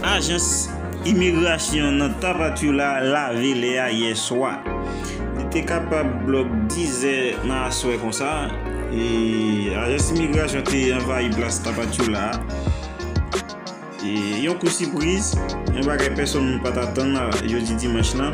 Ajans imigrasyon nan Tapachula lave lè a yè swa. Li te kapab blòk 10 zè nan aswè konsa, e ajans imigrasyon te anvayi plas Tapachula a. Yon kou sipriz, yon bagay pèsonn pa t atann jodi dimanch lan.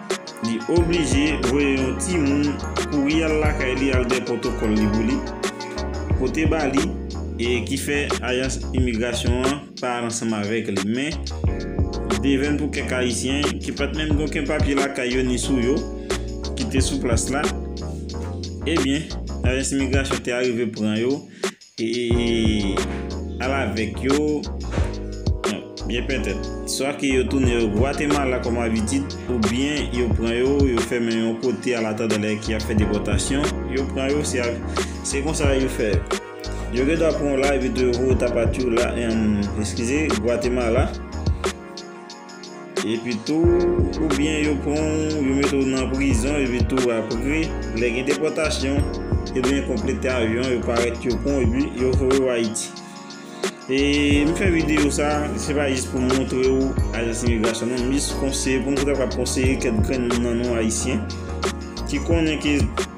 Li oblije voye yon ti moun kouri al lakay li al gen pwotokòl li pou li pote ba li e ki fè ajans imigrasyon an pa al ansanm avèk li. Men, li te vèn pou kèk ayisyen ki pat menm gen oken papye lakay yo ni sou yo ki te sou plas la, ebyen ajans imigrasyon te arive pran yo Eeeeee al avèk yo Bon byen pètèt swa ke yo tounen yo Gwatemala kòm abitid oubyen yo pran yo yo fèmen yon kote an atandan lè ki ap fè depòtasyon yo pran yo se ak se konsa yo fè yo yo gendwa pran w la epi tou yo voye Tapachula eemm eskize Gwatemala. Epitou, ou byen yo pran w, yo mete w nan prizon, epitou apre, lè gen depòtasyon, e byen konplete avyon an, yo parèt yo pran w epi yo voye w Ayiti. E m fè videyo sa, se pa jis pou m montre w ajans imigrasyon non, m jis konseye pou m ta kapab konseye kèk grenn nan nou ayisyen ki konnen ke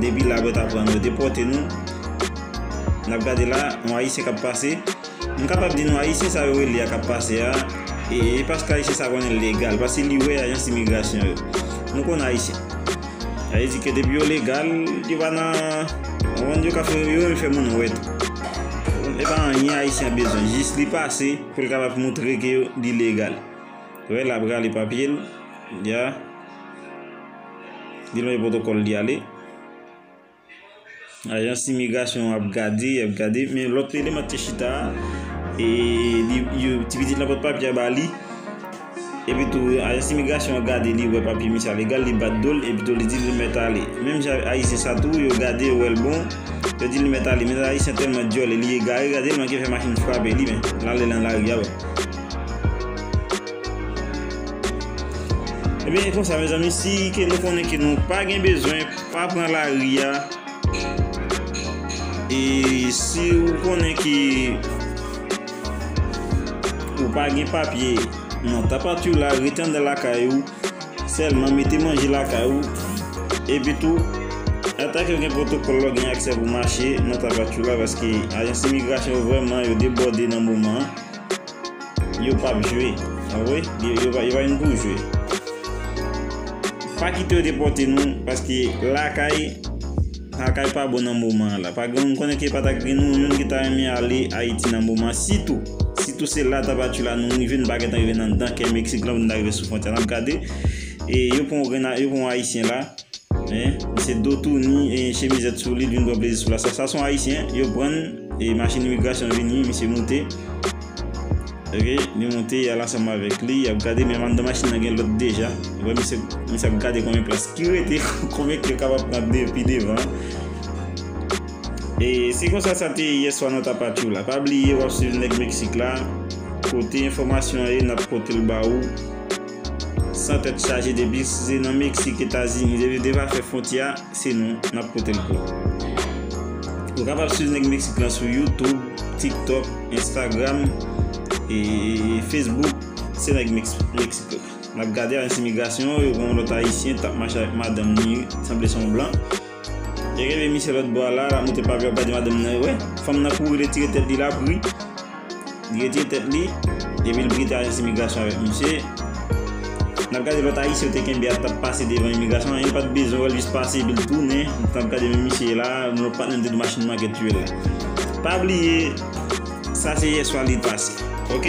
Depi la bèt ap pran nou depòte nou Nap gade la yon ayisyen kap pase M kapab di nou ayisyen sa yo rele a kap pase a e paske ayisyen sa konnen legal paske li wè ajans imigrasyon yo Nou konn ayisyen Sa vle di ke depi yo legal yo pa nan Ou konprann yo ka fè yo menm fè moun wè tou E pa anyen ayisyen ap bezwen jis li pase pou l kapab moutre ke li legal Ou wè lap rale papye l Ya Li lonje pwotokòl li ale. Ajans imigrasyon an ap gade, y ap gade, men lòt eleman te chita a, e li, yo, ti pitit lan pot papye a ba li, epi tou ajans imigrasyon an gade li wè papye misye a legal, li bat do l, epi tou li di l li mèt ale. Menm jan avèk ayisyen sa tou, yo gade yo wè l bon, yo di l li mèt ale. Men ayisyen tèlman dyòl e li egare, gade l manke fè machin frape li men, l ale lan lari a wè. Ebyen e konsa mezanmi si ke nou konnen ke nou pa gen bezwen pa pran lari a E si ou konnen ke ou pa gen papye nan tapat ou la rete andan lakay ou Sèlman mete manje lakay ou Epi tou ata ke ou gen pwotokòl la ou gen aksè pou mache nan tapat ou la paske ajans imigrasyon yo vrèman yo debòde nan moman an. Yo pap jwe. Anwe yo pa vin pou jwe. Pa kite yo depote nou paske lakay lakay pa bon nan moman la. Pa gen moun konnen ke pa ta gen nou youn ki ta renmen ale Ayiti nan moman sitou sitou se la tabati la nou rive nou pa gentan rive nan dan kè Meksik la pou nou ta rive sou fwontyè a. Nap gade e yo pran yon grenn yo pran yon ayisyen la. Men, misye do touni, chemizèt sou li, li vin pran plezi sou la. Sa sa son Ayisyen, yo prann, e machin imigrasyon vini, misye moute. Ok, li moute, yal ansanm avèk li, yap gade, men anndan machin nan gen lòt deja. Ou wè misye, misye ap gade konbyen plas ki rete, konbyen ke yo kapab pran de pi devan. E se konsa sa te ye yè swa nan Tapachou la. Pa bliye wap swiv Nèg Meksik la, kote enfòmasyon an ye, nap potel ba ou. San tèt chaje depi se nan Meksik, Etazini, depi depa fè fwontyè a se nou nap potel pou ou. Ou kapab swiv nèg Meksik lan sou YouTube, TikTok, Instagram e Facebook se nèg Meksik la. Nap gade ajan imigrasyon yo gen yon lòt ayisyen tap mache avèk madanm ni sanble son blan. Li reve misye lòt bò a la, lap moute pavè, gade madanm nan, wè, fanm nan kouri retire tèt li lap ri, li retire tèt li, epi li kite ajans imigrasyon avèk misye, nap gade lòt ayisyen yo te kenbe a tap pase devan imigrasyon an, yo pat bezwen wèl jis pase epi li tounen, nap gade menm misye la, moun yo pat menm di machin manke tiyel la. Pa bliye sa se yèswa li pase ok.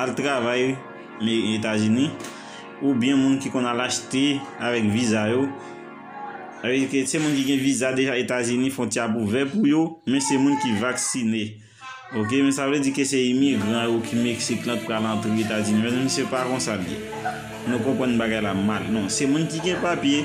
Al travay etazini ou byen moun ki konn al achte avèk viza yo sa vle di ke se moun ki gen viza deja etazini fontyè ap ouvè pou yo men se moun ki vaksine ok men sa vle di ke se imigran yo ki meksik lan ki pral antre etazini mezanmi se pa konsa l ye nou konprann bagay la mal non se moun ki gen papye.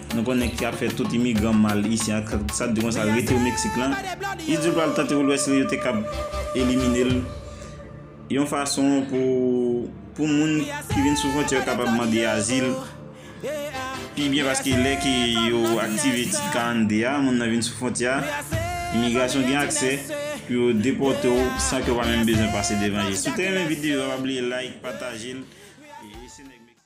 Nou konnen ki ap fè tout imigran mal isi ak sa t di konsa rete ou Mexique lan. Li di l pral tante ou lwès li yo te kab elimine l yon fason pou pou moun ki vin sou fwontyè yo kapab mande azil pi byen paske lè ke yo aktive tit 42 a moun nan vin sou fwontyè a imigrasyon gen aksè pou yo depòte w san ke w pa menm bezwen pase devan jij. Si w te renmen videyo a pa bliye like, pataje l.